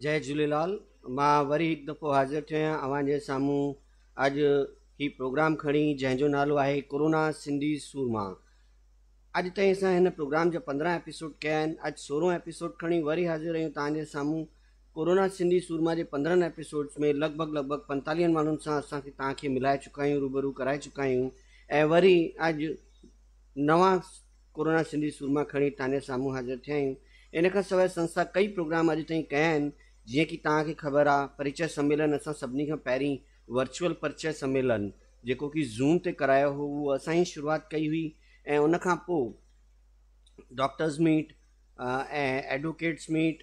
جئي جهوليلال مان وري هڪ دفعو حاضر ٿيو آهيان اوهان جي سامهون اڄ هي پروگرام کڻي جنهن جو نالو آهي ڪورونا سنڌي سورما اڄ تائين اسان هن پروگرام جا پندرهن ايپيسوڊ ڪيا آهن اڄ سورهون ايپيسوڊ کڻي وري حاضر آهيون تان جي سامهون ڪورونا سنڌي سورما جي پندرهن ايپيسوڊس ۾ لڳ ڀڳ لڳ ڀڳ پنتاليهن ماڻهن سان اسان کي تان کي ملائي چڪا آهيون روبرو ڪرائي چڪا آهيون ۽ وري اڄ نوان ڪورونا سنڌي سورما کڻي ٿاني سامهون حاضر ٿيا آهيون ان کان سواء سنسٿا ڪئي پروگرام اڄ تائين ڪيا آهن جيئن ڪي توهان کي خبر آ پريچئه سميلن اسان سڀني کان پهرين ورچوئل پرچئه سميلن جيڪو ڪي زوم تي ڪرايو هو اهو اسان ئي شروعات ڪئي هئي ۽ ان کان پوء ڊاڪٽرز ميٽ ۽ ايڊووڪيٽس ميٽ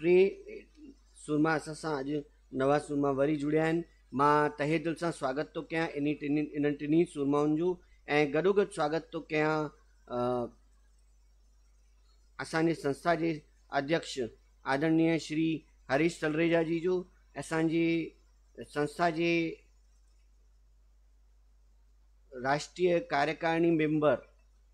ٽي سورما اسان سان اڄ نوان سورما وري جڙيا آهن مان تهه دل سان سواگت ٿو ڪيان انهي ٽنهي انهن ٽنهي سورمائن جو ۽ گڏوگڏ سواگت ٿو ڪيان اسان جي سنسٿا جي اڌيڪش آدرنيه شري هريش تلريجا جي جو اسان جي سنسٿا جي راشٽريه ڪاريڪارڻي ميمبر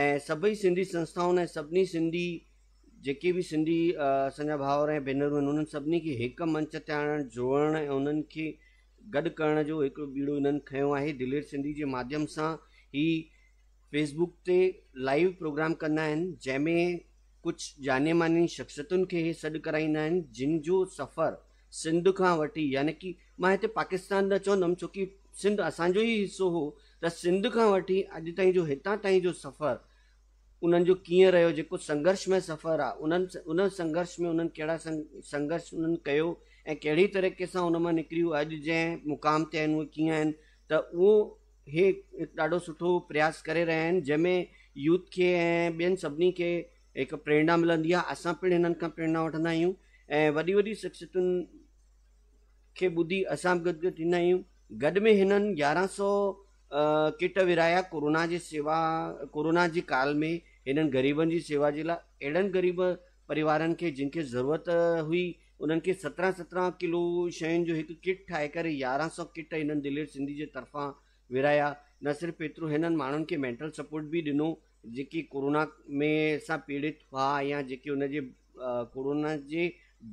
۽ سڀئي سنڌي سنسٿائن ۽ سڀني سنڌي جيڪي به سنڌي اسان جا ڀائر ۽ ڀينرون آهن انهن سڀني کي هڪ منچ تي آڻڻ جوڙڻ ۽ انهن کي گڏ ڪرڻ جو هڪڙو ٻيڙو انهن کنيو آهي دلير سنڌي جي ماڌيم سان هي فيس بوڪ تي لائيو پروگرام ڪندا آهن جنهن ۾ ڪجهه جاني ماني شخصيتن کي هي سڏ ڪرائيندا آهن جن جو سفر سنڌ کان وٺي يعني ڪي مان هتي پاڪستان نه چوندم ڇو ڪي سنڌ اسان جو ئي حصو هو ته سنڌ کان وٺي اڄ تائين جو هتان تائين جو سفر انهن جو ڪيئن رهيو جيڪو سنگهرش مئي سفر آ انهن ان سنگهرش ۾ انهن ڪهڙا سنگهرش انهن ڪيو ۽ ڪهڙي طريقي سان ان مان نڪري هو اڄ جنهن مقام تي آهن اهي ڪيئن آهن ته اهو هي ڏاڍو سٺو پرياس ڪري رهيا آهن جنهن ۾ يوٿ کي ۽ ٻين سڀني کي هڪ پريرنا ملندي آهي اسان پڻ هنن کان پريرنا وٺندا آهيون ۽ وڏي وڏي شخصيتن کي ٻڌي اسان به گدگد ٿيندا آهيون گڏ ۾ هنن يارهن سو ڪٽ ورهايا ڪورونا جي سيوا ڪورونا جي ڪال ۾ هنن غريبن جي سيوا جي لاء اهڙن غريب پريوارن کي جن کي ضرورت هئي انهن کي سترهن سترهن ڪلو شين جو هڪ ڪٽ ٺاهي ڪري يارهن سو ڪٽ هنن دلير سنڌي جي طرفان ورهايا نه صرف ايترو هنن ماڻهن کي مينٽل سپورٽ به ڏنو جيڪي ڪورونا ۾ سان پيڙت هئا يا جيڪي ان جي ڪورونا جي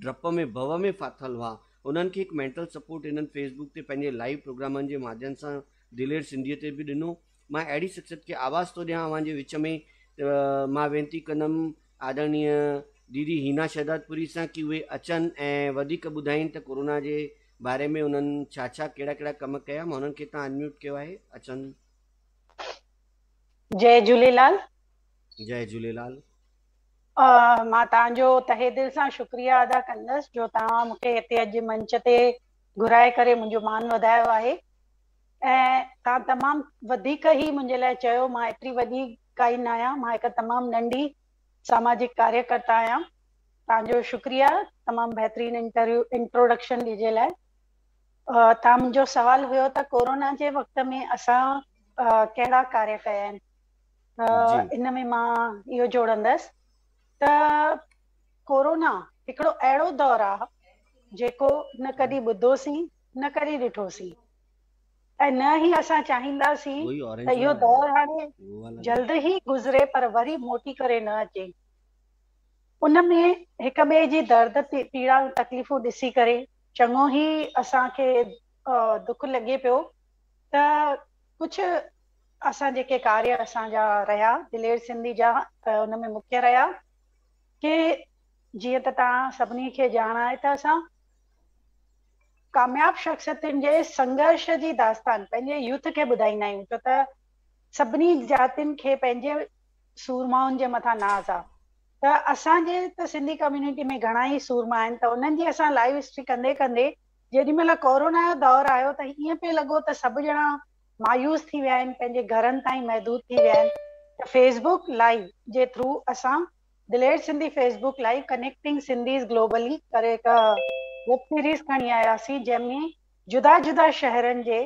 ڊپ ۾ ڀو ۾ ڦاٿل هئا انهن کي هڪ مينٽل سپورٽ هنن فيس بڪ تي پنهنجي لائيو پروگرامن جي مادين سان دلير سنڌيء تي به ڏنو مان اهڙي شخصيت کي آواز ٿو ڏيان اوهان جي وچ ۾ ته مان وينتي ڪندم آدرڻيء ديدي هينا شهدادپوري سان ڪي اهي اچن ۽ وڌيڪ ٻڌائين ته ڪورونا جي باري ۾ انهن ڇا ڇا ڪهڙا ڪهڙا ڪم ڪيا مان انهن کي هتان انميوٽ ڪيو آهي اچن. جئي جهوليلال. جئي جهوليلال. مان توهان جو تهه دل سان شڪريه ادا ڪندس جو توهان مون کي هتي اڄ منچ تي گهرائي ڪري منهنجو مان وڌايو آهي ۽ توهان تمام وڌيڪ هي منهنجي لاء چيو مان ايتري وڏي ڪائي نه آهيان مان هڪ تمام ننڍي ساماجڪ ڪاريه ڪرتا آهيان توهان جو شڪريه تمام بهترين انٽروڊڪشن جي لاء تان منهنجو سوال هيو ته ڪورونا جي وقت ۾ اسان ڪهڙا ڪاري ڪيا آهن ان ۾ مان اهو جوڙندس ته ڪورونا هڪڙو اهڙو دور آهي جيڪو نه ڪڏي ٻڌوسين نه ڪڏي ڏٺوسين ۽ نه هي اسان چاهينداسين ته اهو دور هاڻي جلد هي گذري پر وري موٽي ڪري نه اچي ان ۾ هڪ ٻئي جي درد پيڙا تڪليفون ڏسي ڪري چڱو هي اسان کي دک لڳي پيو ته ڪجهه اسان جيڪي ڪاري اسان جا رهيا دلير سنڌي جا ته ان ۾ مکيه رهيا ڪي جيئن ته توهان سڀني کي ڄاڻ آهي ته اسان ڪامياب شخصيتن جي سنگهرش جي داستان پنهنجي يوٿ کي ٻڌائيندا آهيون ڇو ته سڀني جاتين کي پنهنجي سورمائن جي مٿان ناز آ ته اسان جي ته سنڌي ڪميونٽي ۾ گهڻا ئي سورما آهن ته انهن جي اسان لائيو هسٽري ڪندي ڪندي جيڏي مهل ڪورونا جو دور آيو ته ائين پئي لڳو ته سڀ ڄڻا مايوس ٿي ويا آهن پنهنجي گهرن تائين محدود ٿي ويا آهن ته فيس بوڪ لائيو جي ٿرو اسان Daleer Sindhi fee book live connecting Sindhis globally ڪري هڪ ويب سيريز کڻي آياسين جنهن ۾ جدا جدا شهرن جي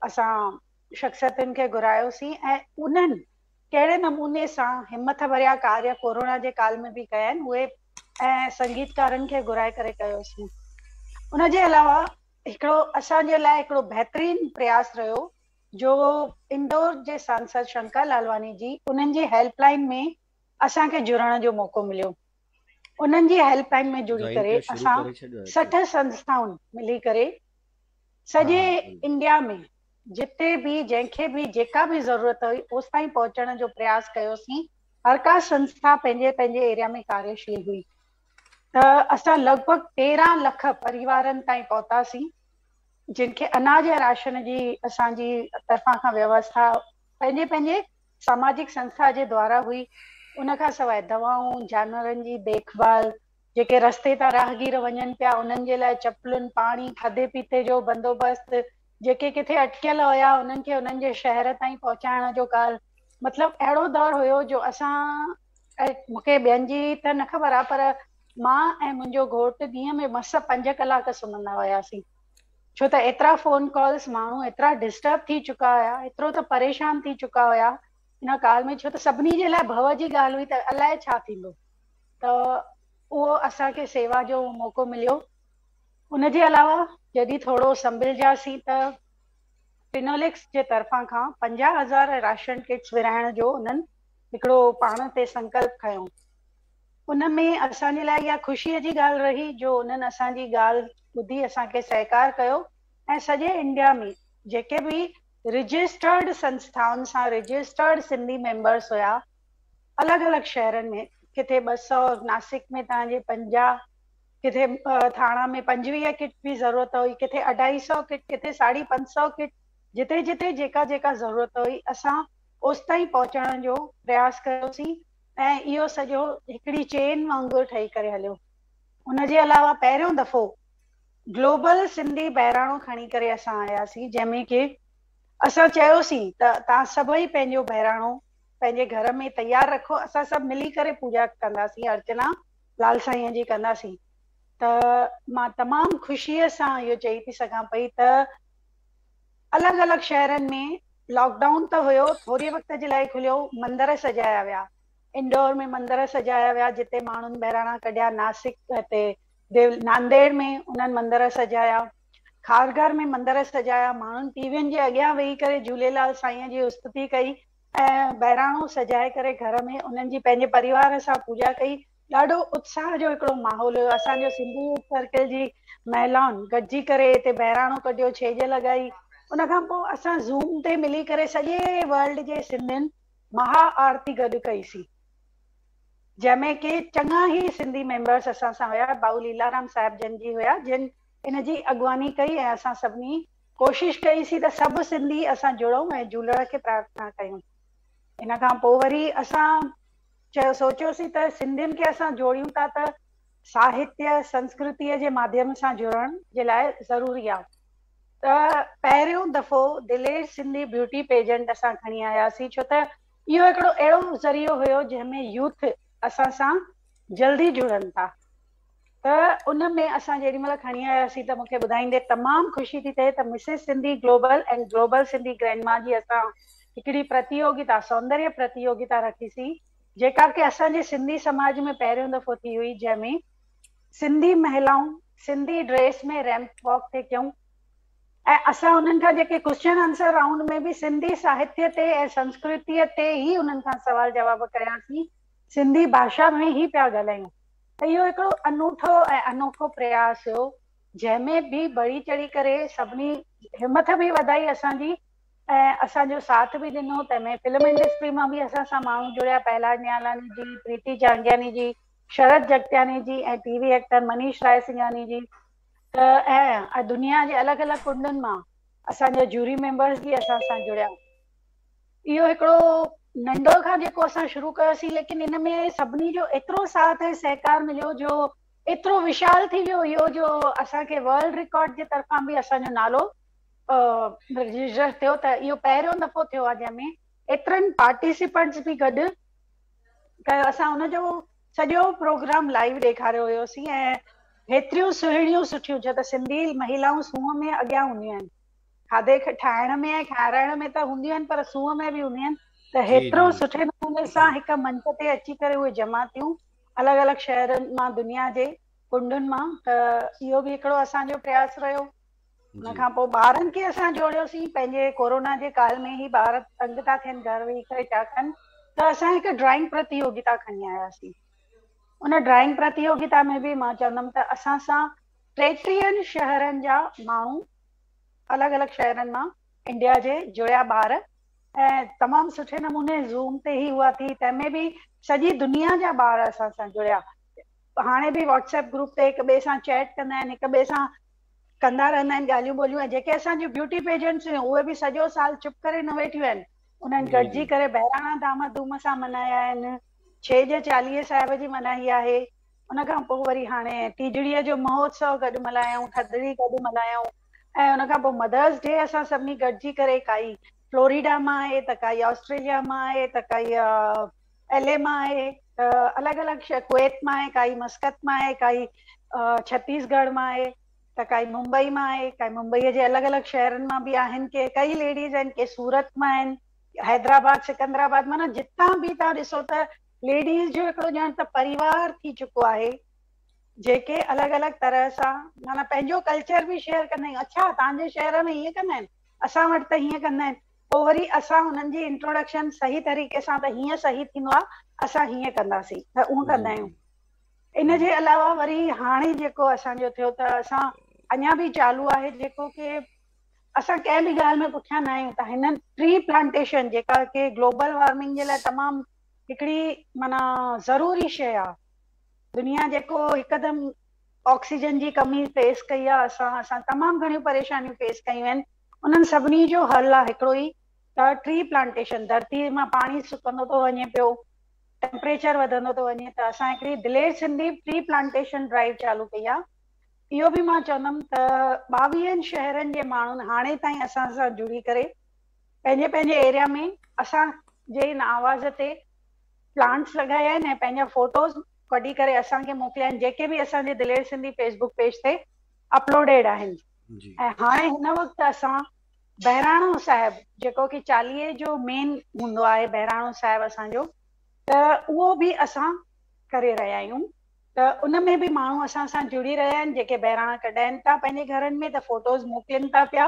اسان شخصيتن کي گهرايوسين ۽ انهن ڪهڙي نموني سان همٿ ڀريا ڪاريه ڪورونا جي ڪال ۾ به ڪيا آهن اهي ۽ سنگيتڪارن کي گهرائي ڪري ڪيوسين ان جي علاوه هڪڙو اسان جي لاء هڪڙو بهترين پرياس رهيو جو انڊور جي سانسد شنڪر لالواني جي انهن جي هيلپ لائين ۾ اسان کي جڙڻ جو موقعو مليو انهن جي هيلپ لائين ۾ جڙي ڪري اسان سٺ سنسٿائن ملي ڪري سڄي انڊيا ۾ جتي به جنهن کي به جيڪا به ضرورت هئي اوستائين پهچڻ جو پرياس ڪيوسين هر ڪا سنسٿا پنهنجي پنهنجي ايريا ۾ ڪاريشيل هئي ته اسان لڳ ڀڳ تيرهن لک پريوارن تائين پهتاسين جن کي اناج ۽ راشن جي اسان جي طرفان کان ويوسٿا پنهنجي پنهنجي ساماجڪ سنسٿا جي دوارا هئي، ان کان سواء دوائون، جانورن جي ديک ڀال، جيڪي رستي تان راهگير وڃن پيا انهن جي لاء چپلن، پاڻي، کاڌي پيتي جو بندوبست، جيڪي ڪٿي اٽڪيل هيا انهن کي انهن جي شهر تائين پهچائڻ جو ڪال مطلب اهڙو دور هيو جو اسان مون کي ٻين جي ته نه خبر آ پر مان ۽ منهنجو گهوٽ ڏينهن ۾ مس پنج ڪلاڪ سمهندا هياسين. ڇو ته ايترا فون ڪالز ماڻهو ايترا ڊسٽرب ٿي چڪا هيا ايترو ته پريشان ٿي چڪا هيا ان ڪال ۾ ڇو ته سڀني جي لاء ڀؤ جي ڳالهه هئي ته الاء ڇا ٿيندو ته اهو اسان کي سيوا جو موقعو مليو ان جي علاوه جڏهن ٿورو سنڀلجياسين ته فنوليڪس جي طرفان کان پنجاهه هزار راشن ڪٽس ورهائڻ جو انهن هڪڙو پاڻ تي سنڪلپ کنيو ان ۾ اسان جي لاء اها خوشيء جي ڳالهه رهي جو انهن اسان جي ڳالهه ٻڌي اسان کي سهڪار ڪيو ۽ سڄي انڊيا ۾ جيڪي به رجسٽرڊ سنسٿائن سان رجسٽرڊ سنڌي ميمبرس هيا الڳ الڳ شهرن ۾ ڪٿي ٻه سؤ ناسڪ ۾ توهان جي پنجاهه ڪٿي ٿاڻا ۾ پنجويهه ڪٽ جي ضرورت هئي ڪٿي اڍائي سؤ ڪٽ ڪٿي ساڍي پنج سؤ ڪٽ جتي جتي جيڪا جيڪا ضرورت هئي اسان اوستائين پهچڻ جو پرياس ڪيوسين ۽ اهو سڄو هڪڙي چين وانگر ٺهي ڪري هليو. ان جي علاوه پهريون دفعو گلوبل سنڌي بهراڻو کڻي ڪري اسان آياسين جنهن ۾ ڪي اسان چيوسين ته توهان سڀئي پنهنجو بهراڻو پنهنجي گهر ۾ تيار رکو اسان سڀ ملي ڪري پوڄا ڪنداسين ارچنا لال سائينء جي ڪنداسين ته مان تمام خوشيء سان اهو چئي ٿي سگهان پئي ته الڳ الڳ شهرن ۾ لاڪ ڊائون ته هيو، ٿوري وقت جي لاء کليو، مندر سجايا ويا، انڊور ۾ مندر سجايا ويا جتي ماڻهن بهراڻا ڪڍيا، ناسڪ تي ديول، نانديڙ ۾ انهن مندر سجايا، کارگهر ۾ مندر سجايا، ماڻهن ٽي وين جي اڳيان ويهي ڪري جهوليلال سائينء جي استتي ڪئي ۽ بهراڻو سجائي ڪري گهر ۾ انهن جي پنهنجي پريوار سان پوڄا ڪئي، ڏاڍو اتساهه جو هڪڙو ماحول هيو اسان جو سنڌو يوٿ سرڪل جي مهلائن گڏجي ڪري هتي بهراڻو ڪڍيو ڇيڄ لڳائي ان کان پوء اسان زوم تي ملي ڪري سڄي ورلڊ جي سنڌين مها آرتي گڏ ڪئي سين جنهن ۾ ڪي چڱا هي سنڌي ميمبرس اسان سان هيا ڀائو ليلارام صاحب جن جي هيا جن ان جي اڳواڻي ڪئي ۽ اسان سڀني ڪوشش ڪئي سي ته سڀ سنڌي اسان جڙون ۽ جهولڻ کي پرارٿنا ڪيون ان کان پوء وري اسان چيو، سوچيوسين ته سنڌين کي اسان جوڙيون ٿا ته ساهتيه، سنسڪرتيء جي ماڌيم سان جڙڻ جي لاء ضروري آ ته پهريون دفعو دلير سنڌي بيوٽي پيجنٽ اسان کڻي آياسين ڇو ته اهو هڪڙو اهڙو ذريعو هيو جنهن ۾ يوٿ اسان سان جلدي جڙن ٿا. ته ان ۾ اسان جيڏي مهل کڻي آياسين ته مون کي ٻڌائيندي تمام خوشي ٿي ٿئي ته Mrs Sindhi global ۽ global Sindhi grandma جي اسان هڪڙي پرتيوگتا سوندريه پرتيوگتا رکيسين جيڪا ڪي اسان جي سنڌي سماج ۾ پهريون دفعو ٿي هئي جنهن ۾ سنڌي مهلائون سنڌي ڊريس ۾ ريمپ واڪ ٿي ڪيون ۽ اسان انهن کان جيڪي ڪوشچن آنسر رائونڊ ۾ به سنڌي ساهتيه تي ۽ سنسڪرتيء تي ئي انهن کان سوال جواب ڪياسين سنڌي ڀاشا ۾ ئي پيا ڳالهايون اهو هڪڙو انوٺو ۽ انوکو پرياس هيو جنهن ۾ به بڙي چڙهي ڪري سڀني همٿ به وڌائي اسان جي ۽ اسان جو ساٿ به ڏنو تنهن ۾ فلم انڊسٽري مان به اسان سان ماڻهو جڙيا پهلاج نيالاني جي، Preeti جهانگياني ji, Sharat Jagtiani ji ۽ T V actor Manish Raisinghani ji ته ۽ دنيا جي الڳ الڳ ڪنڊن مان اسان جا جوري ميمبرز به اسان سان جڙيا. اهو هڪڙو ننڊو کان جيڪو اسان شروع ڪيوسين ليڪن ان ۾ سڀني جو ايترو ساٿ ۽ سهڪار مليو جو ايترو وشال ٿي ويو اهو جو اسان کي ورلڊ رڪارڊ جي طرفان به اسان جو نالو رجسٽر ٿيو ته اهو پهريون دفعو ٿيو آهي جنهن ۾ ايترن پارٽيسپنٽس به گڏ ڪيو اسان ان جو سڄو پروگرام لائيو ڏيکاريو هيوسين ۽ هيتريون سهڻيون سٺيون ڇا ته سنڌي مهيلائون سونهن ۾ اڳيان هونديون آهن کاڌي کي ٺاهڻ ۾ ۽ کارائڻ ۾ ته هونديون آهن پر سونهن ۾ به هونديون آهن ته هيترو سٺي نموني سان هڪ منچ تي اچي ڪري اهي جمع ٿيون الڳ الڳ شهرن مان دنيا جي ڪنڊن مان ته اهو به هڪڙو اسان جو پرياس رهيو ان کان پوء ٻارن کي اسان جوڙيوسين پنهنجي ڪورونا جي ڪال ۾ هي ٻار تنگ ٿا ٿين گهر ويهي ڪري ڇا ڪن ته اسان هڪ ڊرائنگ پرتيوگتا کڻي آياسين ان ڊرائنگ پرتيوگتا ۾ به مان چوندم ته اسان سان ٽيٽيهن شهرن جا ماڻهو الڳ الڳ شهرن مان انڊيا جي جويا ٻار ۽ تمام سٺي نموني زوم تي هي هئا ٿي تنهن ۾ به سڄي دنيا جا ٻار اسان سان جڙيا هاڻي به واٽس ايپ گروپ تي هڪ ٻئي سان چيٽ ڪندا آهن هڪ ٻئي سان ڪندا رهندا آهن ڳالهيون ٻولهيون ۽ جيڪي اسان جون بيوٽي پيجنٽس هيون اهي به سڄو سال چپ ڪري نه ويٺيون آهن انهن گڏجي ڪري بهراڻا دام ڌوم سان ملهايا آهن ڇيڄ چاليهي صاحب جي ملهائي آهي ان کان پوء وري هاڻي ٽيجڙيء جو مهوتسو گڏ ملهايائون، ٿڌڙي گڏ ملهايائون ۽ ان کان پوء مدرس ڊي اسان سڀني گڏجي ڪري ڪائي فلوريڊا مان آهي ته ڪائي آسٽريليا مان آهي ته ڪائي ايل اي مان آهي الڳ الڳ شهر ڪويت مان آهي ڪائي مسقط مان آهي ڪائي ڇتيس ڳڙهه مان آهي ته ڪائي ممبئي مان آهي ڪائي ممبئيء جي الڳ الڳ شهرن مان به آهن ڪي ڪئي ليڊيز آهن ڪي سورت مان آهن حيدرآباد سڪندرآباد معنيٰ جتان به تان ڏسو ته ليڊيز جو هڪڙو ڄڻ ته پريوار ٿي چڪو آهي جيڪي الڳ الڳ طرح سان معنيٰ پنهنجو ڪلچر به شيئر ڪندا آهن اڇا تان جي شهر ۾ هيئن ڪندا آهن اسان وٽ ته هيئن ڪندا آهن پوء وري اسان انهن جي انٽروڊڪشن صحيح طريقي سان ته هيئن صحيح ٿيندو آهي اسان هيئن ڪنداسين ته اونهن ڪندا آهيون ان جي علاوه وري هاڻي جيڪو اسان جو ٿيو ته اسان اڃا به چالو آهي جيڪو ڪي اسان ڪنهن به ڳالهه ۾ پٺيان نه آهيون ته هنن ٽري پلانٽيشن جيڪا ڪي گلوبل وارمنگ جي لاء تمام هڪڙي معنيٰ ضروري شيء آ دنيا جيڪو هڪدم آڪسيجن جي ڪمي فيس ڪئي آ اسان اسان تمام گهڻيون پريشانيون فيس ڪيون آهن انهن سڀني جو حل آ هڪڙو ئي ته ٽري پلانٽيشن ڌرتي مان پاڻي سڪندو ٿو وڃي پيو ٽيمپريچر وڌندو ٿو وڃي ته اسان هڪڙي Daleer Sindhi tree plantation drive چالو ڪئي آ اهو به مان چوندم ته ٻاويهن شهرن جي ماڻهن هاڻي تائين اسان سان جڙي ڪري پنهنجي پنهنجي ايريا ۾ اسان جي هن آواز تي پلانٽس لڳايا آهن ۽ پنهنجا فوٽوز ڪڍي ڪري اسان کي موڪليا آهن جيڪي به اسان جي دلير سنڌي فيسبوڪ پيج تي اپلوڊيڊ آهن ۽ هاڻي هن وقت اسان بهراڻو صاحب جيڪو ڪي چاليهي جو مين هوندو آهي بهراڻو صاحب اسان جو ته اهو به اسان ڪري رهيا آهيون ته ان ۾ به ماڻهو اسان سان جڙي رهيا آهن جيڪي بهراڻا ڪڍائين ٿا پنهنجي گهرن ۾ ته فوٽوز موڪلين ٿا پيا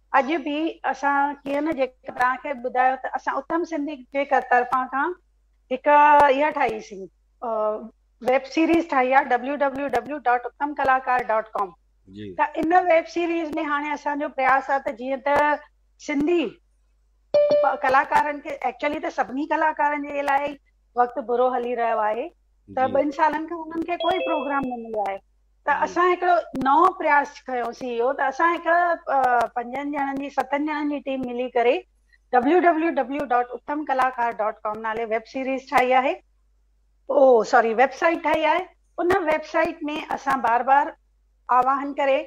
اڄ به اسان ڪيئن نه جيڪا توهان کي ٻڌايو ته اسان اتم سنڌي جي طرفان کان هڪ اها ٺاهي سين ويب سيريز ٺاهي آ www.uttamkalakar.com ته ان ويب سيريز ۾ هاڻي اسان جو پرياس آ ته جيئن ته سنڌي ڪلاڪارن کي ايڪچولي ته سڀني ڪلاڪارن جي لاء وقت برو هلي رهيو آهي ته ٻن سالن کان انهن کي ڪوئي پروگرام نه مليو آهي ته اسان هڪڙو نئون پرياس کنيوسين اهو ته اسان هڪ پنجن ڄڻن جي ستن ڄڻن جي ٽيم ملي ڪري www ڊاٽ اتم ڪلاڪار ڊاٽ ڪام نالي ويب سيريز ٺاهي آهي او سوري ويب سائيٽ ٺاهي آهي ان ويب سائيٽ ۾ اسان بار بار آواهن ڪري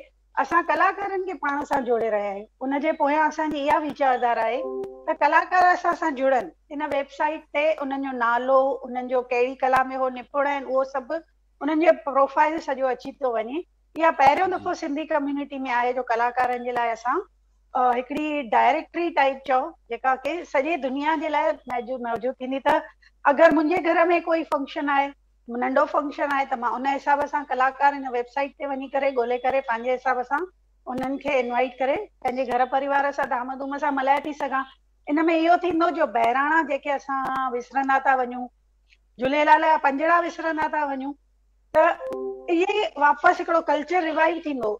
اسان ڪلاڪارن کي پاڻ سان جوڙي رهيا آهيون ان جي پويان اسان جي اها ويچاردار آهي ته ڪلاڪار اسان سان جڙن ان ويب سائيٽ تي انهن جو نالو انهن جو ڪهڙي ڪلا ۾ هو نپڙ آهن اهو سڀ انهن جو پروفائيل سڄو اچي ٿو وڃي اها پهريون دفعو سنڌي ڪميونٽي ۾ آهي جو ڪلاڪارن جي لاء اسان هڪڙي ڊائريڪٽري ٽائيپ چئو جيڪا ڪي سڄي دنيا جي لاء موجود ٿيندي ته اگر منهنجي گهر ۾ ڪوئي فنڪشن آهي ننڍو فنڪشن آهي ته مان ان حساب سان ڪلاڪار ان ويب سائيٽ تي وڃي ڪري ڳولي ڪري پنهنجي حساب سان انهن کي انوائيٽ ڪري پنهنجي گهر پريوار سان ڌام ڌوم سان ملهائي ٿي سگهان ان ۾ اهو ٿيندو جو بهراڻا جيڪي اسان وسرندا ٿا وڃون جهليلال جا پنجڙا وسرندا ٿا وڃون ته اهي واپس هڪڙو ڪلچر ريوائيو ٿيندو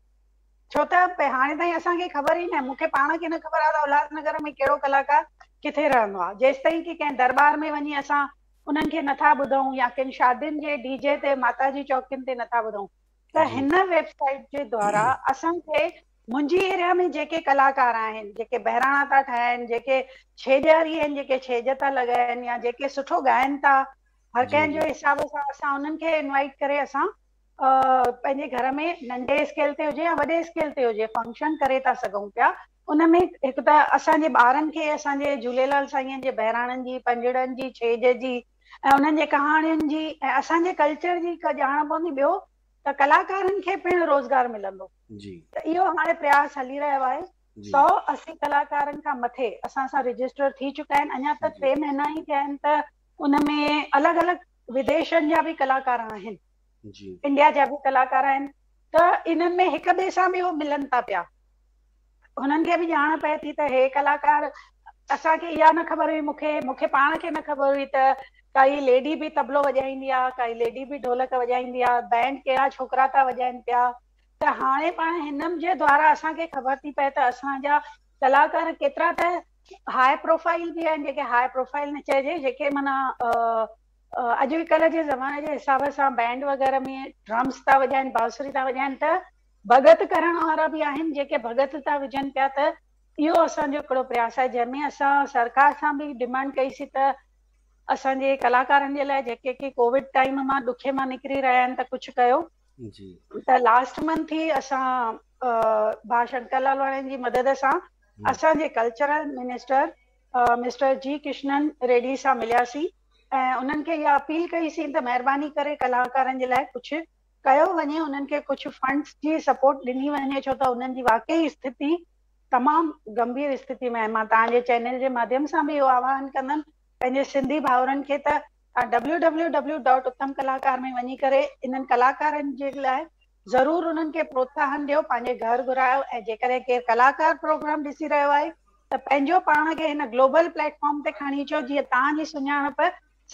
ڇو ته هاڻي تائين اسان کي خبر ئي نه مون کي پاڻ کي نه خبر آهي ته اولاد نگر ۾ ڪهڙو ڪلاڪار ڪٿي رهندو آهي جيستائين ڪي ڪنهن درٻار ۾ وڃي اسان انهن کي نٿا ٻڌون يا ڪن شادين جي ڊي جي تي ماتا جي چوڪين تي نٿا ٻڌون ته هن ويب سائيٽ جي دوارا اسان کي منهنجي ايريا ۾ جيڪي ڪلاڪار آهن جيڪي بهراڻا ٿا ٺاهن جيڪي ڇيڄاري آهن جيڪي ڇيڄ ٿا لڳائن يا جيڪي سٺو ڳائن ٿا هر ڪنهن جو حساب سان اسان انهن کي انوائٽ ڪري اسان پنهنجي گهر ۾ ننڍي اسڪيل تي هجي يا وڏي اسڪيل تي هجي فنڪشن ڪري ٿا سگهون پيا ان ۾ هڪ ته اسان جي ٻارن کي اسان جي جهوليلال سائينء جي بهراڻن جي، پنجڙن جي، ڇيڄ جي ۽ انهن جي ڪهاڻين جي ۽ اسان جي ڪلچر جي ڪا ڄاڻ پوندي ٻيو ته ڪلاڪارن کي پڻ روزگار ملندو ته اهو هاڻي پرياس هلي رهيو آهي سؤ اسي ڪلاڪارن کان مٿي اسان سان رجسٽر ٿي چڪا آهن اڃا ته ٽي مهينا ئي ٿيا آهن ته ان ۾ الڳ الڳ وديشن جا به ڪلاڪار آهن. جي. انڊيا جا به ڪلاڪار آهن ته انهن ۾ هڪ ٻئي سان به هو ملن ٿا پيا هنن کي به ڄاڻ پئي ٿي ته هي ڪلاڪار اسان کي اها نه خبر هئي مون کي مون کي پاڻ کي نه خبر هئي ته ڪائي ليڊي به طبلو وڄائيندي آهي ڪائي ليڊي به ڍولڪ وڄائيندي آهي بينڊ ڪهڙا ڇوڪرا ٿا وڄائين پيا ته هاڻي پاڻ هنن جي دوارا اسان کي خبر ٿي پئي ته اسان جا ڪلاڪار ڪيترا ته هاء پروفائل به آهن جيڪي هاء پروفائل نه چئجي جيڪي معنيٰ اڄ ڪلهه جي زماني جي حساب سان بينڊ وغيره ۾ ڊرمز ٿا وڄائن بانسري ٿا وڄائن ته ڀڳت ڪرڻ وارا به آهن جيڪي ڀڳت ٿا وجهن پيا ته اهو اسان جو هڪڙو پرياس آهي جنهن ۾ اسان سرڪار سان به ڊمانڊ ڪئي سي ته اسان جي ڪلاڪارن جي لاء جيڪي ڪي ڪووڊ ٽائيم مان ڏکي مان نڪري رهيا آهن ته ڪجهه ڪيو جي ته لاسٽ منٿ هي اسان ڀا شنڪر لالواڻين جي مدد سان اسان جي cultural minister mister G Kishan Reddy سان ملياسين ۽ انهن کي اها اپيل ڪئي سين ته مهرباني ڪري ڪلاڪارن جي لاء ڪجهه ڪيو وڃي، انهن کي ڪجهه فنڊز جي سپورٽ ڏني وڃي ڇو ته انهن جي واقعي استٿتي تمام گنڀير استٿتي ۾ آهي. مان توهان جي چينل جي ماڌيم سان به اهو آواهن ڪندم پنهنجي سنڌي ڀائرن کي ته توهان www. اتم ڪلاڪار ۾ وڃي ڪري انهن ڪلاڪارن جي لاء ضرور انهن کي پروتساهن ڏيو، پنهنجي گهر گهرايو ۽ جيڪڏهن ڪير ڪلاڪار پروگرام ڏسي رهيو آهي ته پنهنجو پاڻ کي هن گلوبل پليٽ فارم تي کڻي اچو جيئن توهان جي سڃاڻپ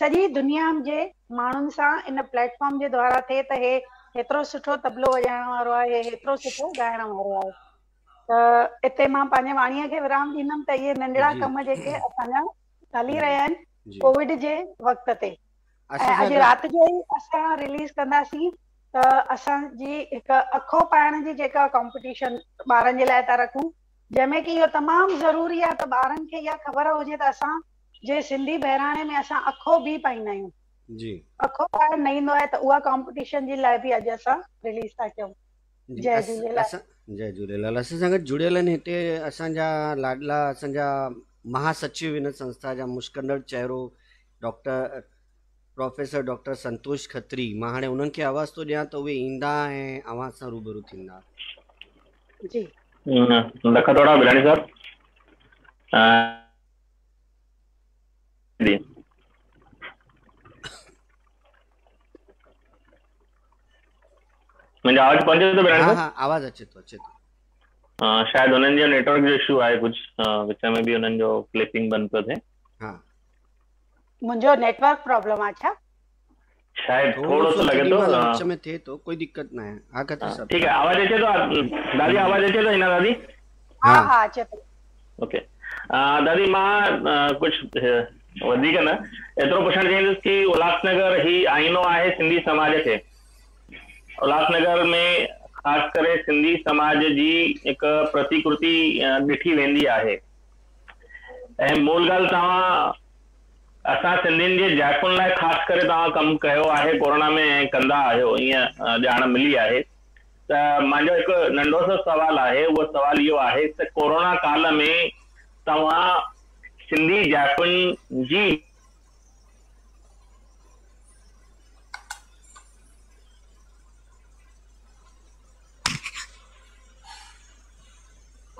سڄي دنيا جي ماڻهن سان ان پليٽ فارم جي دوارا ٿئي ته هي هيترو سٺو طبلو وڄائڻ وارو آهي هي هيترو سٺو ڳائڻ وارو آهي ته اتي مان پنهنجي واڻيء کي ورام ڏيندم ته اهي ننڍڙا ڪم جيڪي اسان جا هلي رهيا آهن ڪووڊ جي وقت تي اسان ۽ سان اڄ گڏ رات جو ئي اسان رليز ڪنداسين ته اسان جي هڪ اکو پائڻ جي جيڪا ڪمپٽيشن ٻارن جي لاء ٿا رکون جنهن ۾ ڪي اهو تمام ضروري آهي ته ٻارن کي اها خبر هجي ته اسان جي سنڌي بهراڻي ۾ اسان اکو به پائيندا آهيون جي اکو پائڻ نه ايندو آهي ته اها ڪمپٽيشن جي لاء به اڄ اسان رليز ٿا ڪيون جي جي اس جهليلال اسان جي جهليلال اسان سان گڏ جڙيل آهن هتي اسان جا لاڏلا اسان جا مها سچيو هن سنسٿا جا مشڪندڙ چهرو doctor professor doctor Santosh Khatri مان هاڻي انهن کي آواز ٿو ڏيان ته اهي ايندا ۽ اوهان سان روبرو ٿيندا جي لک ٿورا بلاڻي صاحب جي منهنجو آواز پهنچي ٿو بلاڻي صاحب ها آواز اچي ٿو اچي ٿو ها شايد انهن جو نيٽورڪ جو اشو آهي ڪجهه وچ ۾ به انهن جو ڪلپنگ بند ٿو ٿئي ها منهنجو نيٽورڪ پرابلم آ ڇا. شايد ٿورو سو لڳي ٿو ها وچ ۾ ٿئي ٿو ڪوئي دقت ناهي ها کتري صاحب ٺيڪ آهي آواز اچي ٿو دادي آواز اچي ٿو هنا دادي ها ها اچي ٿو اوڪي دادي مان ڪجهه وڌيڪ نه ايترو پڇڻ چاهيندس ڪي الاس نگر هي آئينو آهي سنڌي سماج کي الاس نگر ۾ خاص ڪري سنڌي سماج جي هڪ پرتيڪرتي ڏٺي ويندي آهي ۽ مول ڳالهه توهان اسان سنڌين جي جائفن لاء خاص ڪري توهان ڪم ڪيو آهي ڪورونا ۾ ۽ ڪندا آهيو ائين ڄاڻ ملي آهي ته مانجو هڪ ننڍو سو سوال آهي اهو سوال اهو آهي ته ڪورونا ڪال ۾ توهان سنڌي جائفن جي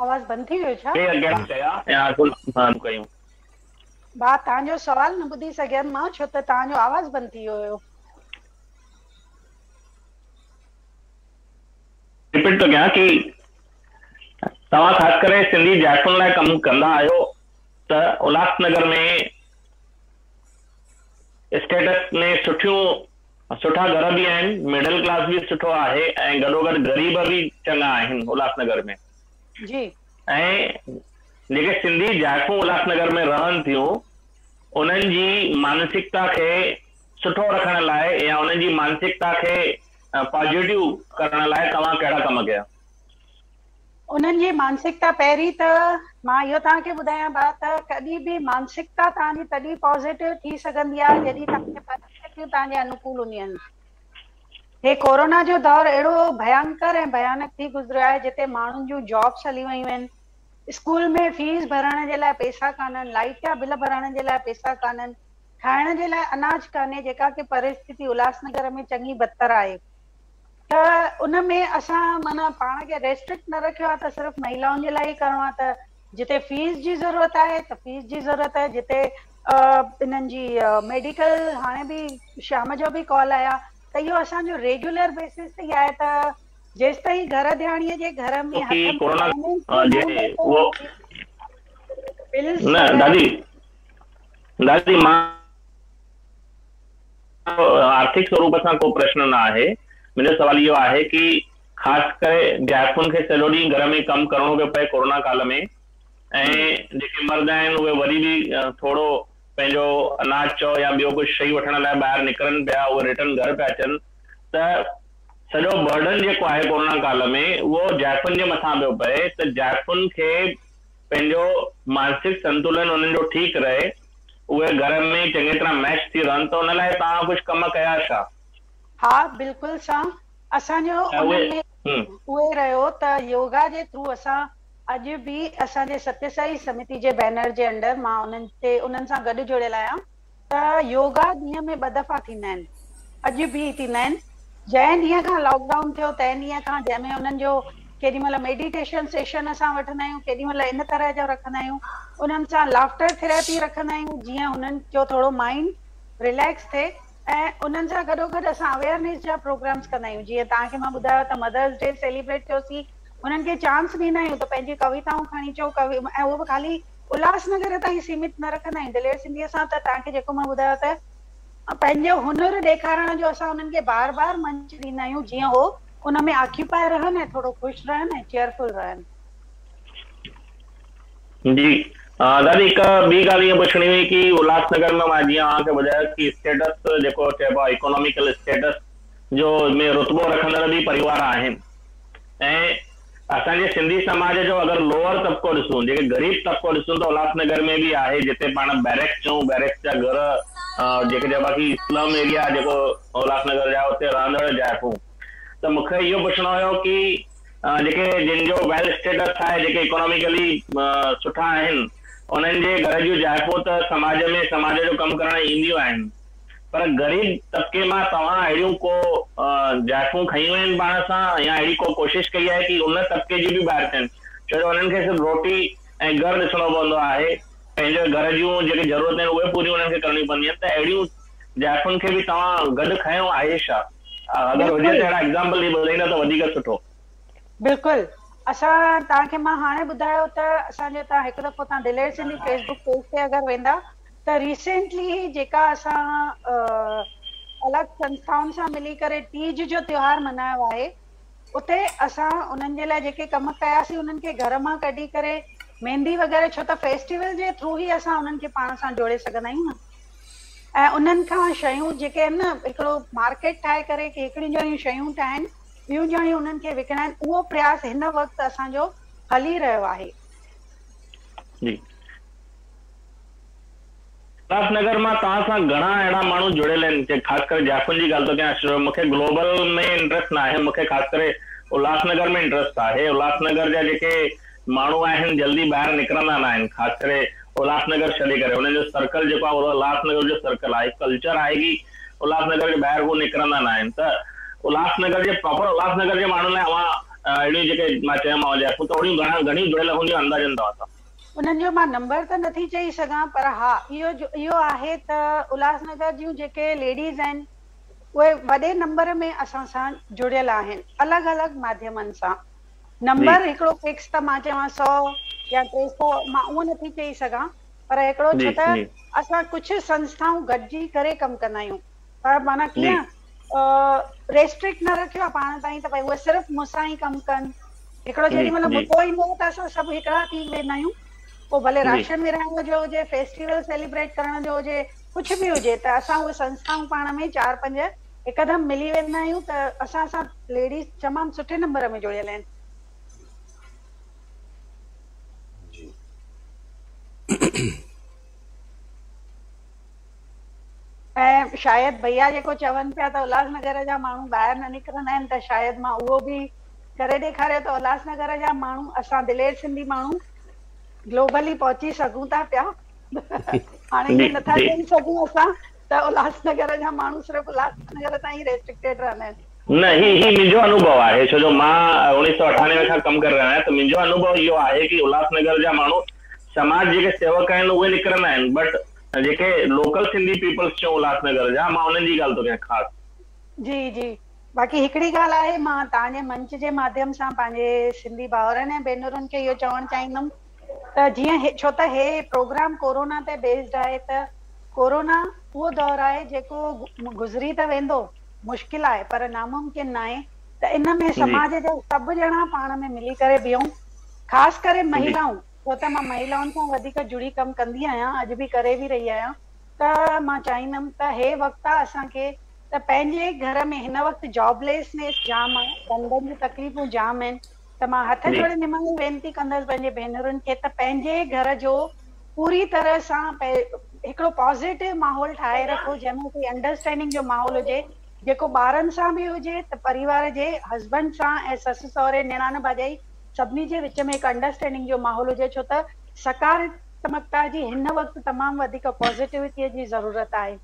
آواز بند ٿي ويو ڇا؟ ڪير ڪهڙا چيا ۽ آرزو مان ڪيون. ڀاء توهان جو سوال نه ٻڌي سگهيم مان ڇو ته توهان جو آواز بند ٿي ويو هيو. رپيٽ ٿو ڪيان ڪي توهان خاص ڪري سنڌي زائفن لاء ڪم ڪندا آهيو ته الهاس نگر ۾ اسٽيٽس ۾ سٺيون سٺا گهر به آهن مڊل ڪلاس به سٺو آهي ۽ گڏوگڏ غريب به چڱا آهن الهاس نگر ۾ جي ۽ جيڪي سنڌي جائفون الهاس نگر ۾ رهن ٿيون انهن جي مانسڪتا کي سٺو رکڻ لاء يا انهن جي مانسڪتا کي پازيٽو ڪرڻ لاء توهان ڪهڙا ڪم ڪيا؟ انهن جي مانسڪتا پهرين ته مان اهو توهان کي ٻڌايان ڀا ته ڪڏهن به مانسڪتا توهان جي تڏهن پازيٽو ٿي سگهندي آهي جڏهن توهان جي پريستتيون توهان جي انوڪول هونديون آهن هي ڪورونا جو دور اهڙو ڀيانڪر ۽ ڀيانڪ ٿي گذريو آهي جتي ماڻهن جون جابس هلي ويون آهن اسڪول ۾ فيس ڀرڻ جي لاء پئسا ڪانهن لائيٽ جا بل ڀرڻ جي لاء پئسا ڪانهن کائڻ جي لاء اناج ڪانهي جيڪا ڪي پريستتي الهاس نگر ۾ چڱي بدتر آهي ته ان ۾ اسان معنيٰ پاڻ کي ريسٽرڪٽ نه رکيو آهي ته صرف مهيلائن جي لاء ئي ڪرڻو آهي ته جتي فيس جي ضرورت آهي ته فيس جي ضرورت آهي جتي انهن جي ميڊيڪل هاڻي به شام جو به ڪال آيا ته اهو اسان جو ريگيولر بيسز تي آهي ته جيستائين گهر ڌياڻيء جي گهر ۾ هٿ ۾ فائنينس جو نه هوندو ته هو بلز وغيره نه دادي دادي مان آرٿڪ سوروپ سان ڪو پرشن نه آهي، منهنجو سوال اهو آهي ڪي خاص ڪري جائفن کي سڄو ڏينهن گهر ۾ ڪم ڪرڻو پيو پئي ڪورونا ڪال ۾ ۽ جيڪي مرد آهن اهي وري به ٿورو پنهنجو اناج چئو يا ٻيو ڪجهه شئي وٺڻ لاء ٻاهر نڪرن پيا اهي رٽرن گهر پيا اچن ته سڄو برڊن جيڪو آهي ڪورونا ڪال ۾ اهو جائفن جي مٿان پيو پئي ته جائفن کي پنهنجو مانسڪ سنتولن انهن جو ٺيڪ رهي اهي گهر ۾ چڱي طرح ميش ٿي رهن ته ان لاء توهان ڪجهه ڪم ڪيا ڇا؟ ها بلڪل سان اسان جو انهن ۾ اهي رهيو ته يوگا جي ٿرو اسان اڄ به اسان جي ستيه سائي سمتي جي بينر جي انڊر مان انهن تي انهن سان گڏ جڙيل آهيان ته يوگا ڏينهن ۾ ٻه دفعا ٿيندا آهن اڄ به ٿيندا آهن جنهن ڏينهن کان لاڪ ڊائون ٿيو تنهن ڏينهن کان جنهن ۾ انهن جو ڪيڏي مھل ميڊيٽيشن سيشن اسان وٺندا آھيون ڪيڏي مھل ان طرح جو رکندا آھيون انھن سان لافٽر ٿيراپي رکندا آھيون جيئن انھن جو ٿورو مائينڊ رليڪس ٿئي ۽ انھن سان گڏوگڏ اسان اويئرنيس جا پروگرامز ڪندا آھيون جيئن توھان کي مان ٻڌايو ته مدرس ڊي سيليبريٽ ڪيوسين انھن کي چانس ڏيندا آھيون ته پنھنجي ڪويتائون کڻي چئو ڪوي ۽ اھو به خالي الھاس نگر تائين سيمت نه رکندا آھيون دلير سنڌيء سان ته توھان کي جيڪو مان ٻڌايو ته پنھنجو ھنر ڏيکارڻ جو اسان انھن کي بار بار منچ ڏيندا آھيون جيئن ھو ان ۾ آڪيوپائي رهن ۽ ٿورو خوش رهن ۽ چيئرفل رهن. جي دادي هڪ ٻي ڳالهه ائين پڇڻي هئي ڪي الهاس نگر ۾ مان جيئن اوهان کي ٻڌايو ڪي اسٽيٽس جيڪو چئبو آهي اڪوناميڪل اسٽيٽس جو ۾ رتبو رکندڙ به پريوار آهن ۽ اسان جي سنڌي سماج جو اگر لوئر طبقو ڏسون جيڪي غريب طبقو ڏسون ته الهاس نگر ۾ به آهي جتي پاڻ بيرڪس چئون بيرڪس جا گهر جيڪي چئبا ڪي اسلم ايريا جيڪو الهاس نگر جا اتي رهندڙ جائفون ته مون کي اهو پڇڻو هيو ڪي جيڪي جن جو ويل اسٽيٽس آهي جيڪي اڪوناميڪلي سٺا آهن انهن جي گهر جون جائفون ته سماج ۾ سماج جو ڪم ڪرڻ اينديون آهن. پر غريب طبقي مان توهان اهڙيون ڪو جائفون کنيون آهن پاڻ سان يا اهڙي ڪو ڪوشش ڪئي آهي ڪي ان طبقي جي به ٻاهر ٿين ڇو جو انهن کي صرف روٽي ۽ گهر ڏسڻو پوندو آهي پنهنجو گهر جون جيڪي ضرورتون آهن اهي پوريون انهن کي ڪرڻيون پونديون آهن ته اهڙيون جائفن کي به توهان گڏ کنيو آهي ڇا اگر هجي ته اهڙا ايگزامپل ڏئي ٻڌائيندا ته وڌيڪ سٺو. بلڪل اسان توهان کي مان هاڻي ٻڌايو ته اسان جي اتان هڪ دفعو توهان دلير سنڌي فيسبڪ پيج تي اگر ويندا ته ريسينٽلي هي جيڪا اسان الڳ سنسٿائن سان ملي ڪري تيج جو تيوهار منايو آهي اتي اسان انهن جي لاء جيڪي ڪم ڪياسين انهن کي گهر مان ڪڍي ڪري ميندي وغيره ڇو ته فيسٽيول جي ٿرو هي اسان انهن کي پاڻ سان جوڙي سگهندا آهيون نه ۽ انهن کان شيون جيڪي آهن نه هڪڙو مارڪيٽ ٺاهي ڪري ڪي هڪڙيون ڄڻيون شيون ٺاهن ٻيون ڄڻيون انهن کي وڪڻائن اهو پرياس هن وقت اسان جو هلي رهيو آهي جي الهاس نگر مان توهان سان گهڻا اهڙا ماڻهو جڙيل آهن جي خاص ڪري جائفن جي ڳالهه ٿو ڪيان اشرف ڀاء مون کي گلوبل ۾ انٽرسٽ نه آهي مون کي خاص ڪري الهاس نگر ۾ انٽرسٽ آهي الهاس نگر جا جيڪي ماڻهو آهن جلدي ٻاهر نڪرندا نه آهن خاص ڪري الهاس نگر ڇڏي ڪري انهن جو سرڪل جيڪو آهي اهو الهاس نگر جو سرڪل آهي ڪلچر آهي ڪي الهاس نگر جي ٻاهر هو نڪرندا نه آهن ته الهاس نگر جي پراپر الهاس نگر جي ماڻهن لاء اوهان اهڙيون جيڪي مان چيومانو جائفون ته اهڙيون گهڻيون جڙيل هونديون اندازن توهان سان انهن جو مان نمبر ته نه ٿي چئي سگهان پر ها اهو اهو آهي ته الهاس نگر جون جيڪي ليڊيز آهن اهي وڏي نمبر ۾ اسان سان جڙيل آهن الڳ الڳ ماڌيمن سان نمبر هڪڙو فڪس ته مان چوان سؤ يا ٽي سؤ مان اهو نه ٿي چئي سگهان پر هڪڙو ڇو ته اسان ڪجهه سنسٿائون گڏجي ڪري ڪم ڪندا آهيون پر معنيٰ جي ڪيئن ريسٽرڪٽ نه رکيو آهي پاڻ تائين ته ڀئي اهي صرف مون سان ئي ڪم ڪن هڪڙو جي جيڏي مهل جي مدو ايندو ته اسان سڀ هڪڙا ٿي ويندا آهيون پوء ڀلي جي راشن ورهائڻ جو هجي فيسٽيول سيليبريٽ ڪرڻ جو هجي ڪجهه به هجي ته اسان اهي سنسٿائون پاڻ ۾ چار پنج هڪدم ملي ويندا آهيون ته اسان سان ليڊيز تمام سٺي نمبر ۾ جڙيل آهن جي ۽ شايد ڀئيا جيڪو چون پيا ته الهاس نگر جا ماڻهو ٻاهر نه نڪرندا آهن ته شايد مان اهو به ڪري ڏيکاريو ته الهاس نگر جا ماڻهو اسان دلير سنڌي ماڻهو گلوبلي پهچي سگهون ٿا پيا هاڻي جي نٿا چئي سگهون اسان ته الهاس نگر جا ماڻهو صرف الهاس نگر تائين ريسٽرڪٽيڊ رهندا آهن نه هي هي منهنجو انوڀو آهي ڇو جو مان اوڻيهه سؤ اٺانوي کان ڪم ڪري رهيو آهيان ته منهنجو انوڀو اهو آهي ڪي الهاس نگر جا ماڻهو سماج جيڪي سيوڪ آهن اهي نڪرندا آهن بٽ جيڪي لوڪل سنڌي پيپلز چئون الهاس نگر جا مان انهن جي ڳالهه ٿو ڪيان خاص. جي جي باقي هڪڙي ڳالهه آهي مان توهان جي منچ جي ماڌيم سان پنهنجي سنڌي ڀائرن ۽ ڀينرن کي اهو چوڻ چاهيندم ته جيئن ڇو ته هي پروگرام ڪورونا تي بيسڊ آهي ته ڪورونا اهو دور آهي جيڪو گذري ته ويندو مشڪل آهي پر ناممڪن ناهي ته ان ۾ سماج جا سڀ ڄڻا پاڻ ۾ ملي ڪري بيهون خاص ڪري مهيلائون ڇو ته مان مهيلائن سان وڌيڪ جڙي ڪم ڪندي آهيان اڄ به ڪري به رهي آهيان ته مان چاهيندم ته هي وقت آهي اسان کي ته پنهنجي گهر ۾ هن وقت جاب ليس نيس جام آهي ڌنڌن جون تڪليفون جام آهن ته مان هٿ جوڙي نماڻي وينتي ڪندس پنهنجي ڀينرن کي ته پنهنجي گهر جو پوري طرح سان هڪڙو پازيٽو ماحول ٺاهي رکو جنهن ۾ ڪي انڊرسٽينڊنگ جو ماحول هجي جيڪو ٻارن سان به هجي ته پريوار جي هسبنڊ سان ۽ سس سهري نيڻان ڀاڄائي سڀني جي وچ ۾ هڪ انڊرسٽينڊنگ جو ماحول هجي ڇو ته سڪارتمڪتا جي هن وقت تمام وڌيڪ پازيٽوٽيء جي ضرورت آهي.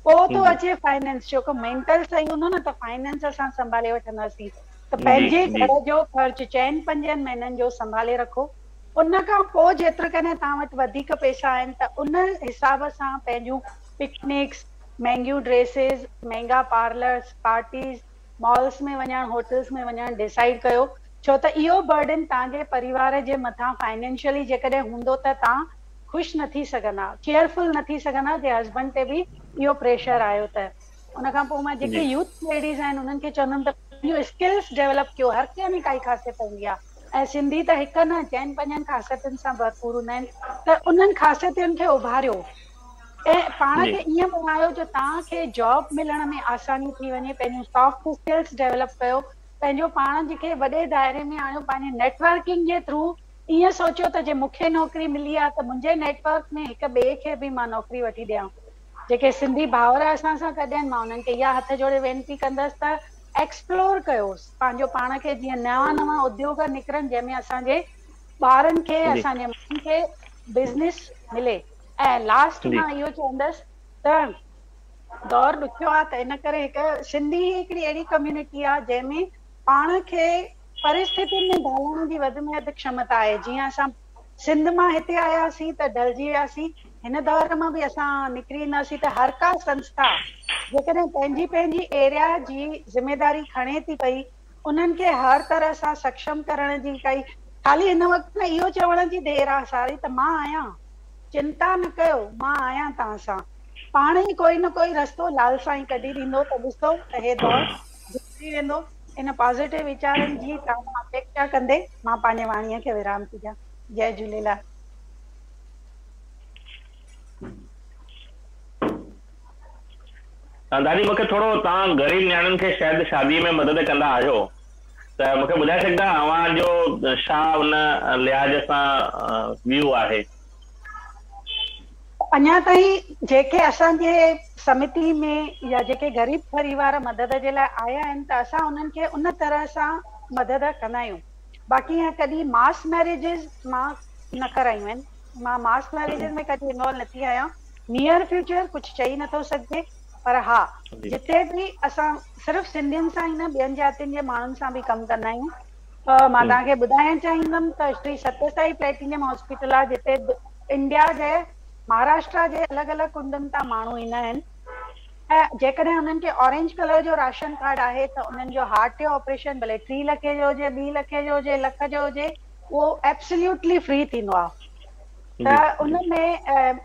پوء ٿو اچي فائننس جو ڪم مينٽل صحيح هوندو نه ته فائننس اسان سنڀالي وٺنداسين ته پنهنجي گهر جو خرچ چئن پنجن مهينن جو سنڀالي رکو ان کان پوء جيترڪڏهن توهان وٽ وڌيڪ پئسا آهن ته ان حساب سان پنهنجون پڪنڪس، مهنگيون ڊريسز، مهنگا پارلرز، پارٽيز، مالز ۾ وڃڻ، هوٽلز ۾ وڃڻ ڊيسائيڊ ڪيو ڇو ته اهو برڊن توهان جي پريوار جي مٿان فائنينشلي جيڪڏهن هوندو ته توهان خوش نه ٿي سگهندا، ڪيئر فل نه ٿي سگهندا جي هسبنڊ تي به اهو پريشر آيو ته. ان کان پوء مان جيڪي يوٿ ليڊيز آهن انهن کي چوندم ته پنهنجون اسڪلز ڊيولپ ڪيو هر ڪنهن ۾ ڪائي خاصيت هوندي آهي ۽ سنڌي ته هڪ نه چئن پنجن خاصيتن سان ڀرپور هوندا آهن ته انهن خاصيتن کي اڀاريو. ۽ پاڻ جي کي ائين بڻايو جو توهان کي جاب ملڻ ۾ آساني ٿي وڃي پنهنجون سافٽ اسڪلس ڊولپ ڪيو پنهنجو پاڻ جي کي وڏي دائري ۾ آڻيو پنهنجي نيٽورڪنگ جي ٿرو ائين سوچيو ته جي مونکي نوڪري ملي آ ته منهنجي نيٽورڪ ۾ هڪ ٻئي کي به مان نوڪري وٺي ڏيان جيڪي سنڌي ڀائر اسان سان گڏ آهن مان انهن کي اها هٿ جوڙي وينتي ڪندس ته ايڪسپلور ڪيو پنهنجو پاڻ کي جيئن نوان نوان اديوگ نڪرن جنهن ۾ اسان جي ٻارن کي جي اسان جي ماڻهن کي بزنس ملي ۽ لاسٽ جي مان اهو چوندس ته دور ڏکيو آ ته ان ڪري هڪ سنڌي هي هڪڙي اهڙي ڪميونٽي آ جنهن ۾ پاڻ کي پرستتين ۾ ڍالڻ جي وڌ ۾ وڌ کشمتا آهي جيئن اسان سنڌ مان هتي آياسين ته ڍلجي وياسين هن دور مان به اسان نڪري اينداسين ته هر ڪا سنسٿا جيڪڏهن پنهنجي پنهنجي ايريا جي ذميداري کڻي ٿي پئي انهن کي هر طرح سان سکشم ڪرڻ جي ڪئي. خالي هن وقت ۾ اهو چوڻ جي دير آ ساري ته مان آهيان. چنتا نه ڪيو، مان آهيان توهان سان. پاڻ ئي ڪوئي نه ڪوئي رستو لال سائين ڪڍي ڏيندو ته ڏسو ته هي دور گذري ويندو. ان پازيٽو ويچارن جي تامه اپيڪشا ڪندي مان پنهنجي واڻيء کي ورام ٿي ڏيان. جئي جهوليلال. دادي مون کي ٿورو توهان غريب نياڻين کي شايد شادي ۾ مدد ڪندا آهيو ته مون کي ٻڌائي سگهندا اوهان جو ڇا ان لحاظ سان ويو آهي. اڃا تائين جيڪي اسان جي سمتي ۾ يا جيڪي غريب پريوار مدد جي لاء آيا آهن ته اسان انهن کي ان طرح سان مدد ڪندا آهيون باقي ائين ڪڏهن ماس ميريجز مان نه ڪرايون آهن مان ماس ميريجز ۾ ڪڏهن انوالو نه ٿي آهيان نيئر فيوچر ڪجهه چئي نٿو سگهجي پر ها جتي به اسان صرف سنڌين سان ئي نه ٻين جاتين جي ماڻهن سان به ڪم ڪندا آهيون ته مان توهان کي ٻڌائڻ چاهيندم ته شري ستي سائي پليٽينيم هاسپيٽل آهي جتي انڊيا جي مهاراشٽرا جي الڳ الڳ ڪنڊن تان ماڻهو ايندا آهن ۽ جيڪڏهن انهن کي اورينج ڪلر جو راشن ڪارڊ آهي ته انهن جو هارٽ جو آپريشن ڀلي ٽي لکي جو هجي ٻي لکي جو هجي لک جو هجي اهو ابسليوٽلي فري ٿيندو آهي ته ان ۾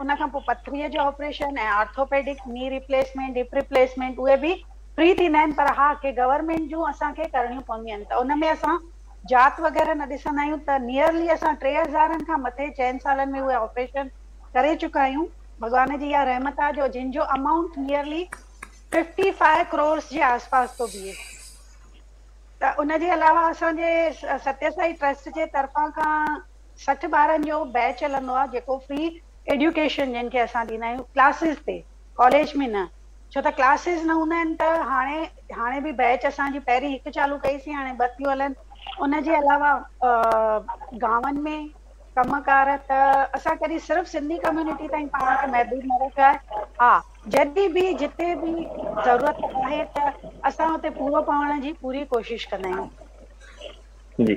ان کان پوء پٿريء جو operation ۽ orthopaedic knee replacement hip replacement اهي به فري ٿيندا آهن پر ها ڪي گورنمينٽ جون اسان کي ڪرڻيون پونديون آهن ته ان ۾ اسان جات وغيره نه ڏسندا آهيون ته نيئرلي اسان ٽي هزارن کان مٿي چئن سالن ۾ اهي آپريشن ڪري چڪا آهيون ڀڳوان جي اها رحمت آهي جو جن جو amount nearly fifty five crores جي آس پاس ٿو بيهي ته ان جي علاوه اسان جي ستيسائي ٽرسٽ جي طرفان کان سٺ ٻارن جو بيچ هلندو آهي جيڪو فري ايڊيوڪيشن جنهن کي اسان ڏيندا آهيون ڪلاسز تي ڪاليج ۾ نه ڇو ته ڪلاسز نه هوندا آهن ته هاڻي هاڻي به بيچ اسان جي پهرين هڪ چالو ڪئي سين هاڻي ٻه ٿيون هلن ان جي علاوه گاون ۾ ڪم ڪار ته اسان ڪڏهن صرف سنڌي ڪميونٽي تائين پاڻ کي محدود نه رکيو آهي ها جڏهن به جتي به ضرورت آهي ته اسان اتي پورو پوڻ جي پوري ڪوشش ڪندا آهيون جي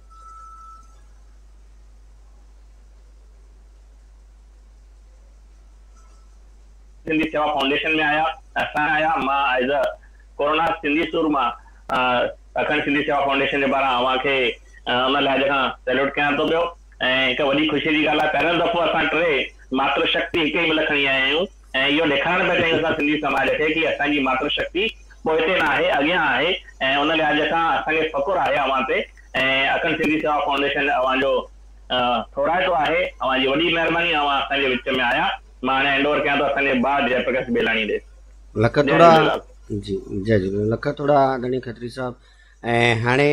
سنڌي سيوا فائونڊيشن ۾ آيا اسان آيا مان ايز ا ڪورونا سنڌي سور مان اکنڊ سنڌي سيوا فائونڊيشن جي پاران اوهان کي ان لحاظ کان سيلوٽ ڪيان ٿو پيو ۽ هڪ وڏي خوشي جي ڳالهه آهي پهريون دفعو اسان ٽي ماتر شڪتي هڪ ئي ملڪ کڻي آيا آهيون ۽ اهو ڏيکارڻ پيا چاهيون اسان سنڌي سماج کي ڪي اسان جي ماتر شڪتي پوئتي نه آهي اڳيان آهي ۽ ان لحاظ کان اسان کي فخر آهي اوهان تي ۽ اکنڊ سنڌي سيوا فائونڊيشن اوهان جو ٿورائتو آهي اوهان جي وڏي مهرباني اوهان اسان جي وچ ۾ آيا مان هاڻي هينڊ اوور ڪيان ٿو اسان جي ڀاء جئي پرڪاش بيلاڻي ڏي لک توڙا جي جئي جهليلال لک توڙا آدرڻي کتري صاحب ۽ هاڻي.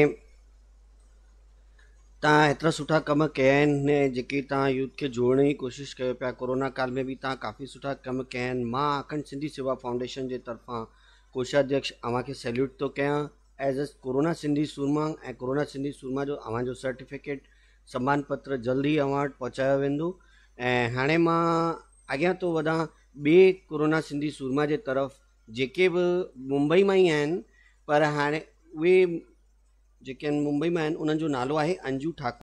تان ايترا سٺا ڪم ڪيا آهن جيڪي تان يوٿ کي جوڙڻ جي ڪوشش ڪيو پيا ڪورونا ڪال ۾ به تان ڪافي سٺا ڪم ڪيا آهن مان اکنڊ سنڌي سيوا فائونڊيشن جي طرفان ڪوشاڌيڪش اوهان کي سيليوٽ ٿو ڪيان ايز اي ڪورونا سنڌي سورما ۽ ڪورونا سنڌي سورما جو اوهان جو سرٽيفڪيٽ سمان پتر جلد ئي اوهان وٽ پهچايو ويندو ۽ هاڻي مان اڳيان ٿو وڌان ٻي ڪورونا سنڌي سورما جي طرف جيڪي به ممبئي مان ئي آهن پر هاڻي اهي جيڪي ممبئي مان آهن انهن جو نالو آهي انجو ٺاڪر.